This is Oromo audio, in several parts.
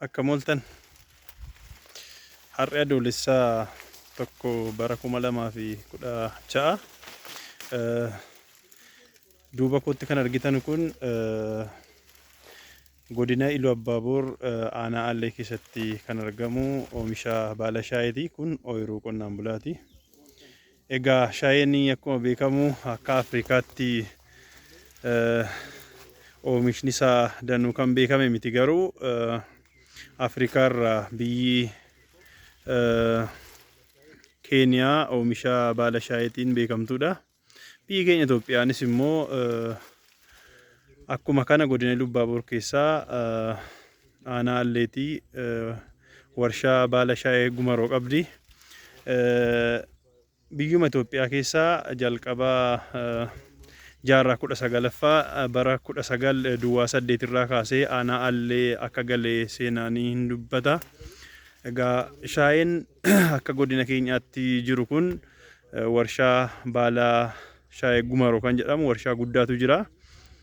Akka mooltan har'a adoolessaa tokko bara kuma lamaa fi kudha ja'a duuba kootti kan argitan kun godina Iluu Abbaaboor aanaa Aallee keessatti kan argamu oomisha baala shaayeeti. Kun ooyiruu qonnaan bulaati. Egaa shaayeen akkuma beekamu akka Afrikaatti oomishni isaa danuu kan beekame miti garuu Afrikaa irraa biyyi Keeniyaa oomisha baala shaayeetiin beekamtuudha. Biyyi keenya Itoophiyaanis immoo akkuma kana godina Lubbaaboor keessaa Aanaa Alleetii warshaa baala shaayee Gumaroo qabdi. Biyyuma Itoophiyaa keessaa jalqaba jaarraa kudha sagalaffaa bara kudha sagal duwwaa saddeet irraa kaasee aanaa Allee akka gale seenaan hin dubbata. Egaa shaayeen akka godina keenyaatti jiru kun warshaa baala shaayee Gumaroo kan jedhamu warshaa guddaatu jira.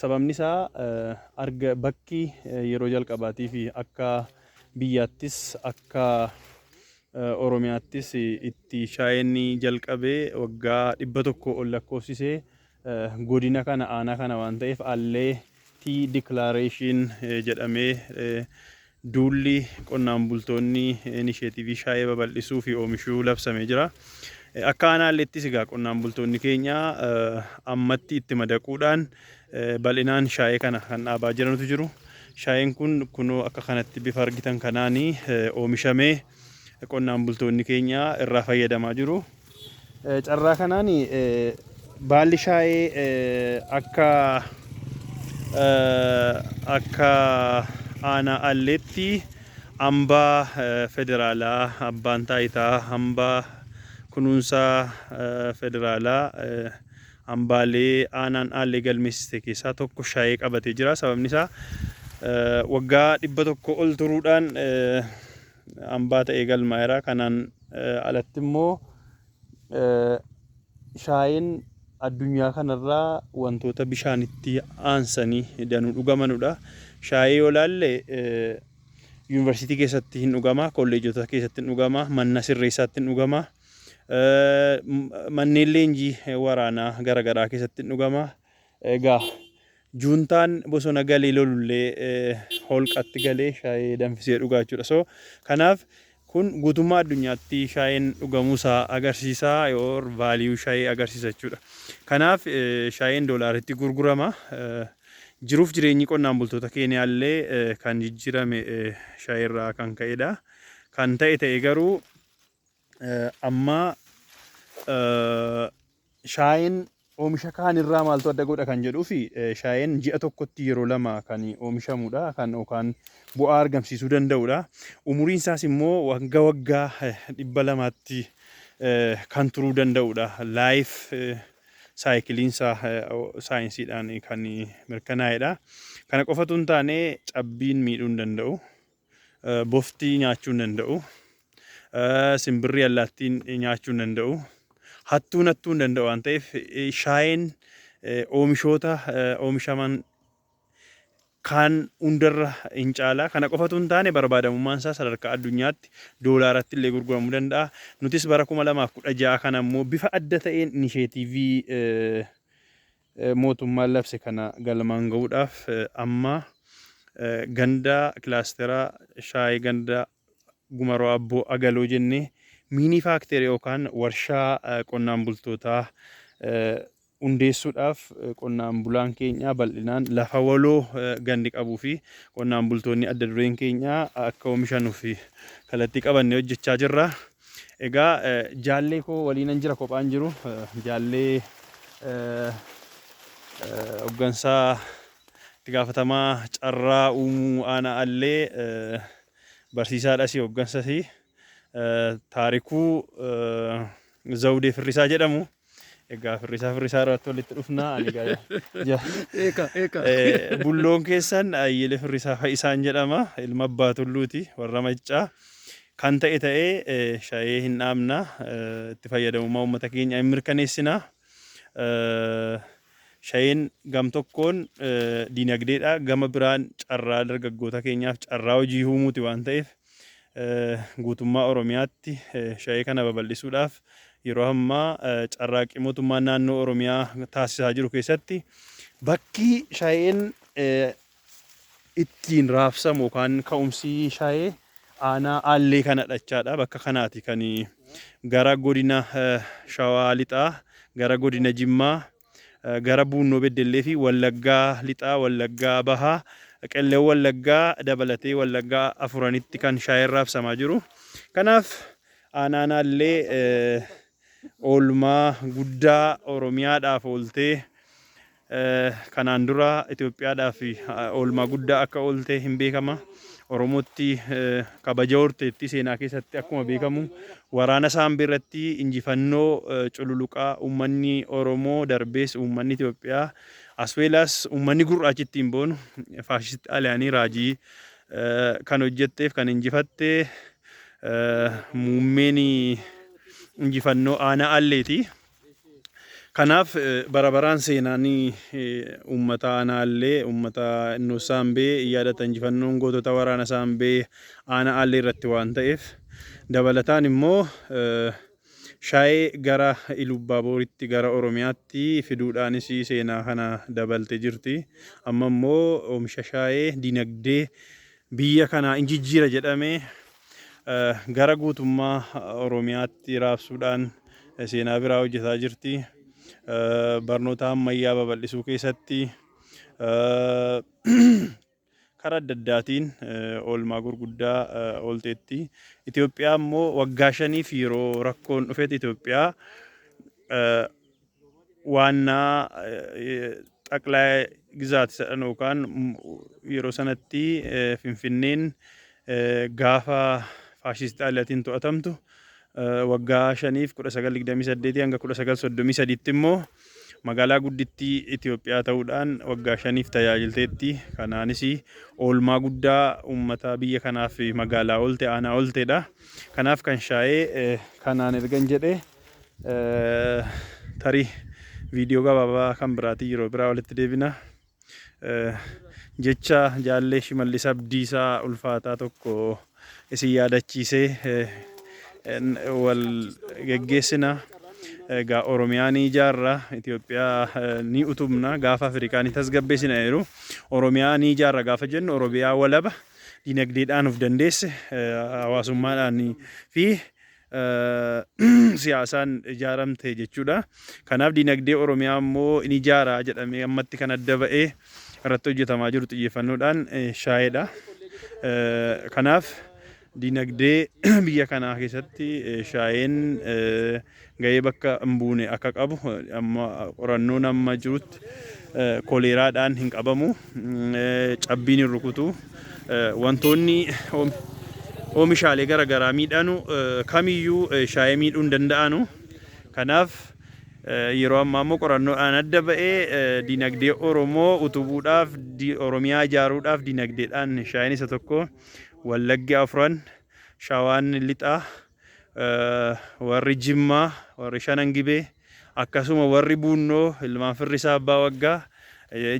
Sababni isaa arga bakki yeroo jalqabaatiif akka biyyaattis akka Oromiyaattis itti shaayeen jalqabe waggaa dhibba tokko ol lakkoofsise godina kana aanaa kana waan ta'eef Allee tii diklaareeshiin jedhamee Duulli qonnaan bultoonni inisheetiivii shaayee babal'isuu fi oomishuu labsamee jira. Akka aanaalleettis egaa qonnaan bultoonni keenya ammatti itti madaquudhaan bal'inaan shaayee kana kan dhaabaa jiranutu jiru. Shaayeen kun kunoo akka kanatti bifa argitan kanaan oomishamee qonnaan bultoonni keenya irraa fayyadamaa jiru. Carraa kanaan baalli shaayee akka akka aanaa Alleetti ambaa federaalaa abbaan taayitaa ambaa kunuunsa federaalaa ambaalee aanaan Aallee galmeessiste keessaa tokko shaayee qabatee jira. Sababni isaa waggaa dhibba tokko ol turuudhaan hambaa ta'ee galmaa'eera. Kanaan alatti immoo shaayeen addunyaa kanarraa wantoota bishaanitti aansanii danuu dhugamanudha. Shaayee yoo laalle yuunivarsiitii keessatti hin dhugama, kolleejota keessatti hin dhugama, manna sirreessaatti hin dhugama, manneen leenjii waraanaa garaagaraa keessatti hin dhugama. Egaa Juuntaan bosona galee lolullee holqatti galee shaayee danfisee dhuga jechuudha. So kanaaf kun guutummaa addunyaatti shaayeen dhugamuu isaa agarsiisa or value shaayee agarsiisa jechuudha. Kanaaf shaayeen doolaaritti gurgurama. Jiruuf jireenyi qonnaan bultoota Keeniyaa illee kan jijjiirame shaayee irraa kan ka'edha. Kan ta'e ta'e garuu Amma shaayeen oomisha kaan irraa maaltu adda godha kan jedhuuf shaayeen ji'a tokkotti yeroo lama kan oomishamudha kan yookaan bu'aa argamsiisuu danda'udha. Umuriin isaas immoo wagga waggaa dhibba lamaatti kan turuu danda'udha. Laayif saayikiliin isaa saayinsiidhaan kan mirkanaa'edha. Kana qofatu hin taane cabbiin miidhuu hin danda'u. Bofti nyaachuu hin danda'u. Simbirri allaattiin nyaachuu hin danda'u. Hattuun hattuu hin danda'u waan ta'eef shaayeen oomishoota oomishaman kaan hundarra hin caala. Kana qofatu hin taane barbaadamummaan isaa sadarkaa addunyaatti doolaaratti illee gurguramuu danda'a. Nutis bara 2016 kana immoo bifa adda ta'een inisheetiivii mootummaan labse kana galmaan ga'uudhaaf amma ganda kilaastera shaayii ganda Gumaroo Abboo Agaloo jennee miinii faakteerii yookaan warshaa qonnaan bultootaa hundeessuudhaaf qonnaan bulaan keenya bal'inaan lafa waloo gandi qabuu fi qonnaan bultoonni adda dureen keenya akka oomishanuuf kallattii qabannee hojjechaa jirra. Egaa jaallee koo waliinan jira kophaan jiru jaallee hoggansaa itti gaafatamaa carraa uumuu aanaa allee barsiisaadhasi hoggansasi taarikuu zawdee firrisaa jedhamu Egaa firrisaa firrisaa irratti walitti dhufnaa ani gaa ja- Eeka eeka. Eh, bulloon keessan Ayyile Firrisaa Fayisaan jedhama. Ilma abbaa tulluuti warra maccaa. Kan ta'e ta'ee eh, shayee hin dhaabna. Eh, Itti fayyadamummaa uummata keenya hin mirkaneessina. Eh, Shayeen gam tokkoon eh, diinagdeedha. Gama biraan carraa dargaggoota keenyaaf carraa hojii uumuuti waan ta'eef guutummaa Oromiyaatti sha'ee kana babal'isuudhaaf yeroo ammaa carraaqqii mootummaan naannoo Oromiyaa taasisaa jiru keessatti bakki sha'een ittiin raabsamu yookaan ka'umsi sha'ee aanaa aallee kana dhachaadha. Bakka kanaati kan gara godina shawaa lixaa gara godina jimmaa gara Buunnoo Beddelleefi Wallaggaa Lixaa, Wallaggaa Bahaa, Qellem Wallaggaa dabalatee Wallaggaa afuranitti kan shaayeen raabsamaa jiru. Kanaaf Aanaa Anaallee oolmaa guddaa Oromiyaadhaaf ooltee kanaan dura Itoophiyaadhaaf oolmaa guddaa akka oolte hin beekama. Oromootti kabaja horteetti. Seenaa keessatti akkuma beekamu waraana Saambee irratti injifannoo cululuqaa uummanni Oromoo darbees uummanni Itoophiyaa as well as uummanni gurraachi ittiin boonu faashisti Xaaliyaanii raajii kan hojjetteef kan injifatte muummeen injifannoo aanaa Alleeti. Kanaaf bara baraan seenaan uummata Aanaa Allee, uummata Innoos Saambee yaadata injifannoon gootota waraana Saambee Aanaa Allee irratti waan ta'eef dabalataan immoo Shaayee gara Ilubbaabooritti gara Oromiyaatti fiduudhaanis seenaa kana dabalte jirti. Amma immoo oomisha shaayee dinagdee biyya kanaa in jijjiira jedhamee gara guutummaa Oromiyaatti raabsuudhaan seenaa biraa hojjetaa jirti. Barnoota ammayyaa babal'isuu keessatti karaa adda addaatiin oolmaa gurguddaa oolteetti. Itoophiyaa immoo waggaa shaniif yeroo rakkoon dhufetti Itoophiyaa waannaa xaqlaaya gizaati sadhan yookaan yeroo sanatti Finfinneen gaafa faashiist Xaaliyatiin to'atamtu waggaa shaniif 1928 hanga 1933tti immoo magaalaa guddittii Itoophiyaa ta'uudhaan waggaa shaniif tajaajilteetti. Kanaanis oolmaa guddaa uummataa biyya kanaaf magaalaa oolte aanaa ooltedha. Kanaaf kan shaayee kanaan ergan jedhee Tarii viidiyoo gabaabaa kan biraatiin yeroo biraa walitti deebina. Jecha jaallee Shimallis Abdiisaa ulfaataa tokko isin yaadachiisee wal geggeessina. Egaa Oromiyaa ni ijaarra, Itoophiyaa ni utubna, gaafa Afrikaa ni tasgabbeessina jedhu. Oromiyaa ni ijaarra gaafa jennu Oromiyaa walaba dinagdeedhaan of dandeesse hawaasummaadhaan fi siyaasaan ijaaramte jechuudha. Kanaaf diinagdee Oromiyaa immoo ni ijaara jedhamee ammatti kan adda ba'ee irratti hojjetamaa jiru xiyyeeffannoodhaan shaayedha. Kanaaf diinagdee biyya kanaa keessatti shaayeen gahee bakka hin buune akka qabu amma qorannoon amma jirutti koleeraadhaan hin qabamu. cabbiin hin rukutu. Wantoonni oomishaalee gara garaa miidhanu kamiyyuu shaayee miidhuu hin danda'anu. Kanaaf yeroo ammaa immoo qorannoodhaan adda ba'ee dinagdee Oromoo utubuudhaaf Oromiyaa ijaaruudhaaf dinagdeedhaan shaayeen isa tokko Wallaggi Afran, Shawaan Lixaa, warri Jimmaa, warri Shanan Gibee Akkasuma warri Buunnoo ilmaan Firrisaa Abbaa Waggaa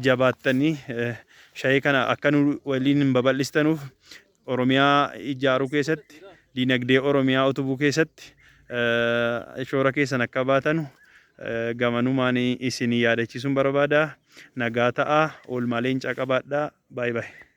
jabaattanii shayee kana akka nu waliin babal'istanuuf Oromiyaa ijaaruu keessatti diinagdee Oromiyaa utubuu keessatti shoora keessan akka baatanu gamanumaan isin yaadachiisuun barbaada. Nagaa ta'aa, oolmaa leencaa qabaadhaa. Baay baay.